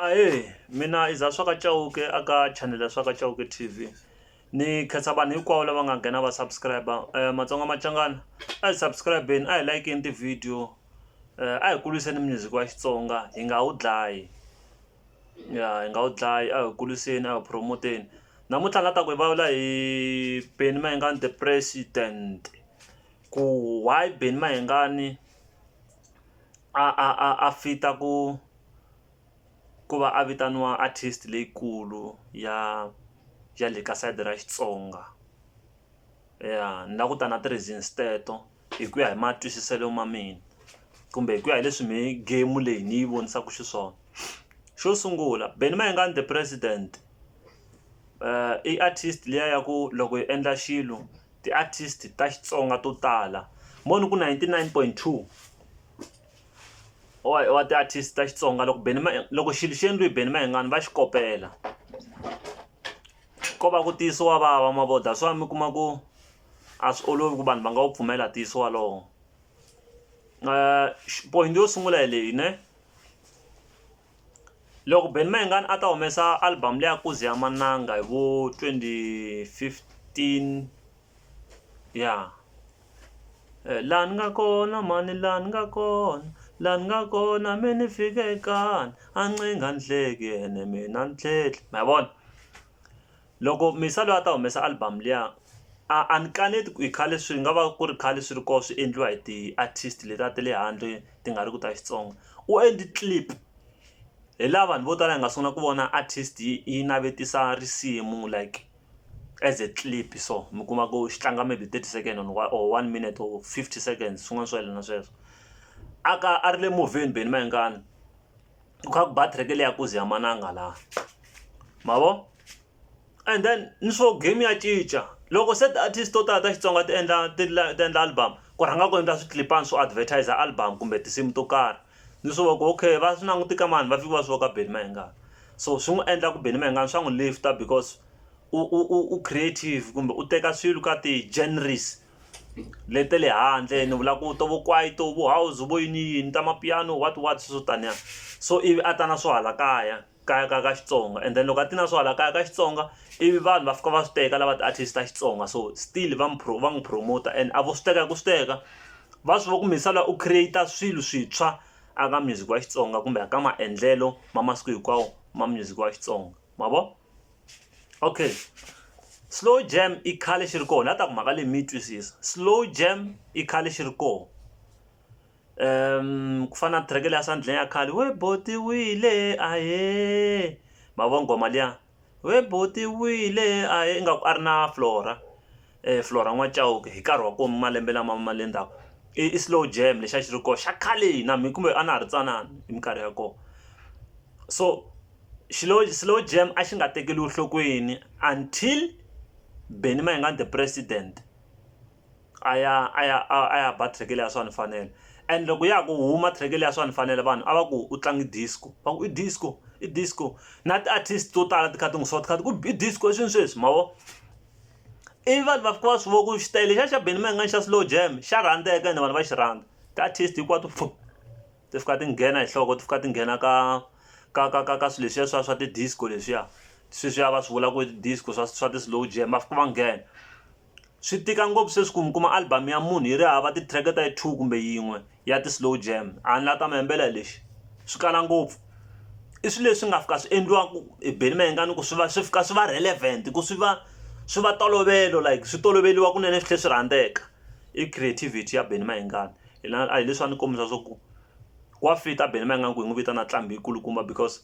Ahee mina i Zah swa ka Chauke a ka chanel ya swa ka Chauke T_V ni khensa vanhu hinkwavo lava nga nghena va subscriber Matsonga Machangani a hi subscribe-ni a hi like-ni ti-video a hi kuriseni music wa Xitsonga hi nga wu dlayi ya hi nga wu dlayi a hi wu kuriseni a hi wu promote-ni namuntlha ni la ta ku hi vulavula hi Benny Mayengani the president ku why Benny Mayengani. a a a a fit-a ku ku va a vitaniwa artist leyikulu ya ya le ka side ra Xitsonga ya ni la ku ta na ti-reasons teto hi ku ya hi matwisiselo ma mina kumbe hi ku ya hi leswi me game leyi ni yi vonisaka xiswona xo sungula Benny Mayengani the president i artist liya ya ku loko hi endla xilo Ti artist ta Xitsonga to tala mo ni ku 99.2 wa ti artist ta Xitsonga loko Benny loko xilo xi endliwe hi Benny Mayengani va xi kopela ko va ku ntiyiso wa vava ma vo that's why mi kuma ku a swi olovi ku vanhu va nga wu pfumela ntiyiso walowo point yo sungula hi leyi ne. Loko Benny Mayengani a ta humesa album leyi ya Ku Ze Ya Mananga hi vo twenty fifteen ya laha ni nga kona mhani laha ni nga kona laha ni nga kona me ni fike kani a ncenga ni hleke ene me na ni tlhela ma yi vona. loko Misa loyi a ta humesa album liya a a ni kaneti ku i khale swi nga va ku ri khale swi ri kona swi endliwa hi ti-artist letiya ta le handle ti nga ri ku ta Xitsonga u endli clip hi laha vanhu vo tala hi nga sungula ku vona artist yi yi navetisa risimu like as a clip so mi kuma ku xi tlanga maybe thirty second or one minute or fifty seconds swin'wana swo yelana sweswo a ka a ri le movheni Benny Mayengani. kha ku battery ke leya ku ze yamananga la ma vo and then ni swo game ya cinca loko se ti-artist to tala ta xitsonga ti endla ti ti endla album ku rhanga ku endla swiclipani swo advertiser album kumbe tinsimu to karhi ni swi voko okay va swi languti ka mani va fiki va swi voka Benny Mayengani so swi n'wi endla ku Benny Mayengani swa n'wi lift-a because u u u u creative kumbe u teka swilo ka ti-genres lete le handle ni vula ku to vo kwaito vo house vo yini yini ta mapiano what what swo taniya so ivi a ta na swo hala kaya kaya ka ka Xitsonga and then loko a ti na swo hala kaya ka Xitsonga ivi vanhu va fika va swi teka lava ti-artist ta Xitsonga so still va n'wi va n'wi promoter and a vo swi teka hi ku swi teka va swi va ku Mhisela u create-a swilo swintshwa a ka music wa Xitsonga kumbe a ka maendlelo ma masiku hinkwawo ma music wa Xitsonga ma vo. okay slow jam i khale xi ri kona a ta ku mhaka leyi mi yi twisisa slow jam i khale xi ri kona um ku fana na track leya sandleng ya khale we botiwile ahe mavona ngoma liya we botiwile ahe ingaku a ri na flora Flora N'wa Chauke hi nkarhi wa kona malembe lama ma le ndzhaku i slow jam lexi a xi ri kona xa khale na mina kumbe a na ha ri ntsanana hi minkarhi ya kona so xilo slow jam a xi nga tekeriwi enhlokweni until Benny Mayengani the president a ya a ya a ya ba track leyi a swa ni fanela and loko ya ha ku huma track leyi a swa ni fanela vanhu a va ku u tlange disco va ku i disco i disco na ti-artist to tala ti kha ti n'wi swa ti kha ti ku i disco i swini sweswi ma vo. ivi vanhu va fika va swi vona ku xi tele xa xa Benny Mayengani xa slow jam xa rhandzeka ene vanhu va xi rhandza ti-artist hinkwato pfu ti fika ti nghena hi nhloko ti fika ti nghena ka ka ka ka ka swilo leswiya swa swa ti-disco leswiya sweswiya va swi vula ku i ti-disco swa swa ti-slow jam va fika va nghena swi tika ngopfu sweswi ku mi kuma album ya munhu yi ri hava ti-track ta yi two kumbe yin'we. ya ti-slow jam a ni la ta mi hembela lexi swi kala ngopfu i swilo leswi nga fika swi endliwaka hi beni mayengani ku swi va swi fika swi va relevant ku swi va swi va tolovelo like swi toloveliwa kunene swi tlhe swi rhandzeka i creativity ya beni mayengani hina a hi leswi a ni kombisa swa ku wa fit a beni mayengani ku hi n'wi vitana ntlambhi yi kulukumba because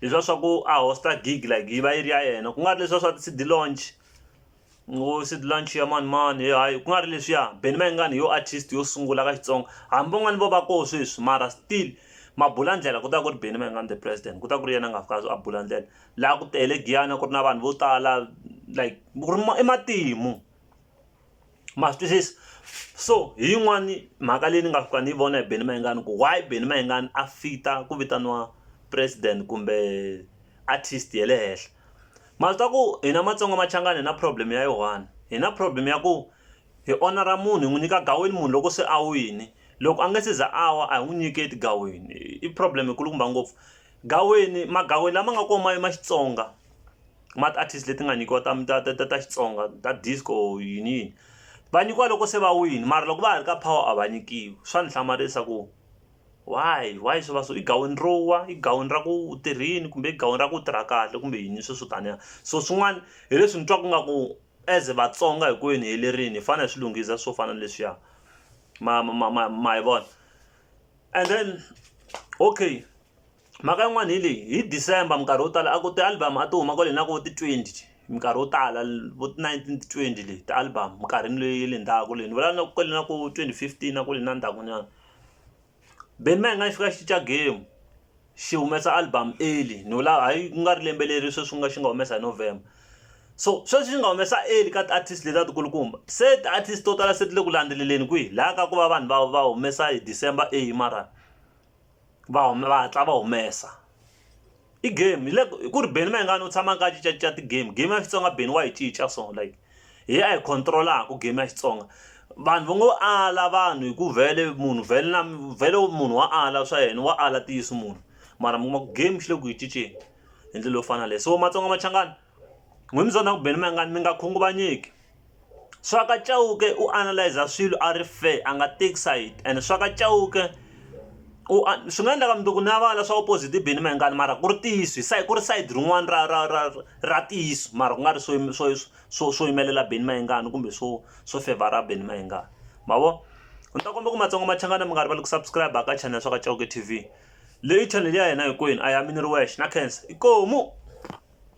hi swa swa ku a hosta gig like yi va yi ri ya yena ku nga ri leswiya swa ti-cd launch ngo cd launch ya mani mani he hayi ku nga ri leswiya Benny Mayengani yo artist yo sungula ka Xitsonga hambi van'wani vo va koho sweswi mara still ma bula ndlela ku ta ku ri Benny Mayengani the president ku ta ku ri yena a nga fika a bula ndlela laha ku tele Giyani a ku ri na vanhu vo tala like ku ri i matimu ma swi twisisa so hi yin'wani mhaka leyi ni nga fika ni yi vona hi Benny Mayengani ku why Benny Mayengani a fit-a ku vitaniwa president kumbe artist ya le henhla ma swi tiva ku hina Matsonga Machangani hi na problem ya yi one hi na problem ya ku hi onara munhu hi n'wi nyika gaweni munhu loko se a wini loko a nga se za a wa a hi n'wi nyiketi gaweni i problem yi kulukumba ngopfu gaweni magawini lama nga kona ma ma Xitsonga ma ti-artist leti nga nyikiwa ta ta ta ta ta Xitsonga ta disco or yini yini va nyikiwa loko se va wini mara loko va ha ri ka power a va nyikiwi swa ni hlamarisa ku why why swi va so i gaweni ro wa i gaweni ra ku u tirhini kumbe i gaweni ra ku u tirha kahle kumbe yini sweswo taniya so swin'wana hi leswi ni twaku nga ku as a Vatsonga hi ku ene helerile hi fane hi swi lunghisa swo fana na leswiya ma ma ma ma hi vona and then okay. mhaka yin'wani hi leyi hi December minkarhi yo tala a ku ti-album a ti huma kwale hi na vo ti twenty minkarhi yo tala vo ti nineteen ti twenty leyi ti-album minkarhini leyi ya le ndzhaku leyi ni vulavula kwale na ku twenty fifteen a kwale na ndzhaku nyana Benny Mayengani xi fika xi cinca game xi humesa album early ni vula hayi ku nga ri lembe leri sweswi nga xi nga humesa hi November so sweswi xi nga humesa early ka ti-artist leti a ti kulukumba se ti-artist to tala se ti le ku landzeleleni kwihi la ka ku va vanhu va va humesa hi December early mara. va huma va hatla va humesa i game hi le hi ku ri Benny Mayengani u tshama a kha a cincacinca ti-game game ya Xitsonga Benny wa yi cinca so like hi ya hi control-aka game ya Xitsonga vanhu va ngo ala vanhu hi ku vhele munhu vhele na vhele munhu wa ala swa yena wa ala ntiyiso munhu mara mi kuma ku game xi le ku yi cinceni hi ndlela yo fana na leyi so Matsonga Machangani. N'wina mi byona ku Benny Mayengani mi nga khunguvanyeki, Swaka Chauke u analyse swilo a ri fair a nga take side and Swaka Chauke u swi nga endleka mundzuku na va la swa opposite i Benny Mayengani mara ku ri ntiyiso hi ku ri sayiti rin'wana ra ra ra ra ntiyiso mara ku nga ri swo swo swo swo yimelela Benny Mayengani kumbe swo swo fevhara Benny Mayengani ma vo. Ni ta kombela ku Matsonga Machangani mi nga rivali ku subscribe-a ka channel Swaka Chauke T_V leyi channel ya hina hinkwenu a yi yimeli wexe na khensa inkomu.